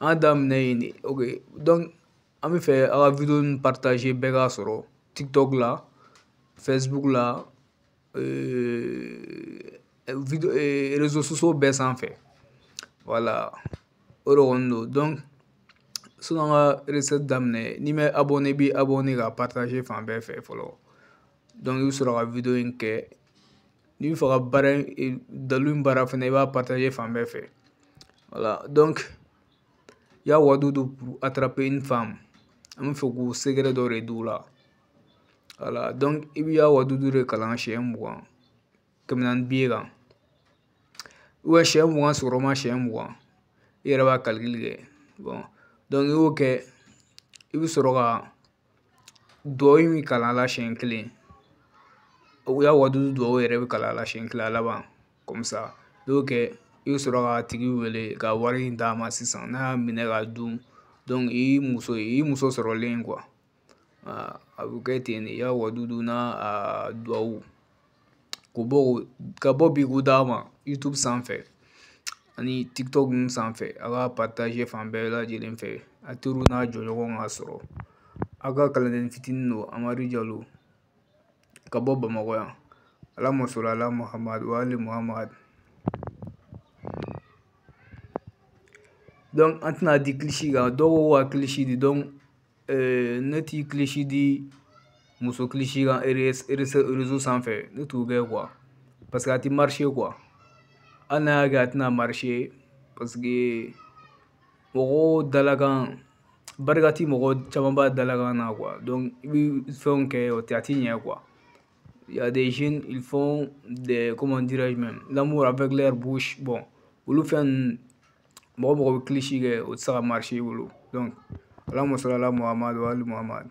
an daminɛ yen de ok donc an b'a fɛ aw ka video nin partager bɛɛ k'a sɔrɔ tiktok la facebook la euh, video euh, réseaux sociaux bɛɛ sanfɛ voilà o de kɔni don donc sanni an ka recette daminɛ n'i m'i abonné i b'i abonné k'a partager fan bɛɛ fɛ fɔlɔ donc i bɛ sɔrɔ ka video in kɛ n'i b'a fɛ ka baara in dalu in baara fana i b'a partager fan bɛɛ fɛ voilà donc ya wadudu pour attraper une femme an b'a fɛ k'o secret dɔ de d'u la voilà donc i bɛ ya wadudu de kalan siɲɛ mugan kɛmɛ naani billet kan siɲɛ mugan sɔgɔma siɲɛ mugan i yɛrɛ b'a calcul kɛ bon donc i y'o kɛ i bɛ sɔrɔ ka duwawu min kalan a la siɲɛ kelen o ya wadudu duwawu yɛrɛ bɛ kalan a la siɲɛ kelen a laban comme ça n'i y'o kɛ i bɛ sɔrɔ k'a tigi wele ka wari in d'a ma sisan n'a y'a minɛ k'a dun donc i muso sɔrɔlen quoi a bɛ kɛ ten de ya wadudu n'a duwawu k'o bɔ ka bɔ bi k'u d'a ma youtube sanfɛ ani tiktok ninnu sanfɛ a k'a partager fan bɛɛ lajɛlen fɛ a teriw n'a jɔɲɔgɔn k'a sɔrɔ aw ka kalanden fitinin don amadu jalo ka bɔ bamakɔ yan allahumma salli ala muhammad wa ali muhammad donc an tɛna di kilisi kan dɔw ko ka kilisi di donc Eh, ne ti kilisi di muso kilisi kan réseau sanfɛ ne t'o kɛ quoi parce que a tɛ marcher quoi hali n'a y'a kɛ a tɛna marcher parce que mɔgɔw dalakan barika ti mɔgɔ caman b'a dalakan na quoi donc i bɛ fɛnw kɛ o tɛ a tɛ ɲɛ quoi il y a des jeunes ils font des comment dirais-je même l'amour avec leur bouche bon olu fɛn ninnu mɔgɔ mɔgɔ bɛ kilisi kɛ o tɛ se ka i bolo ala muso ala muhamadu ali muhamadu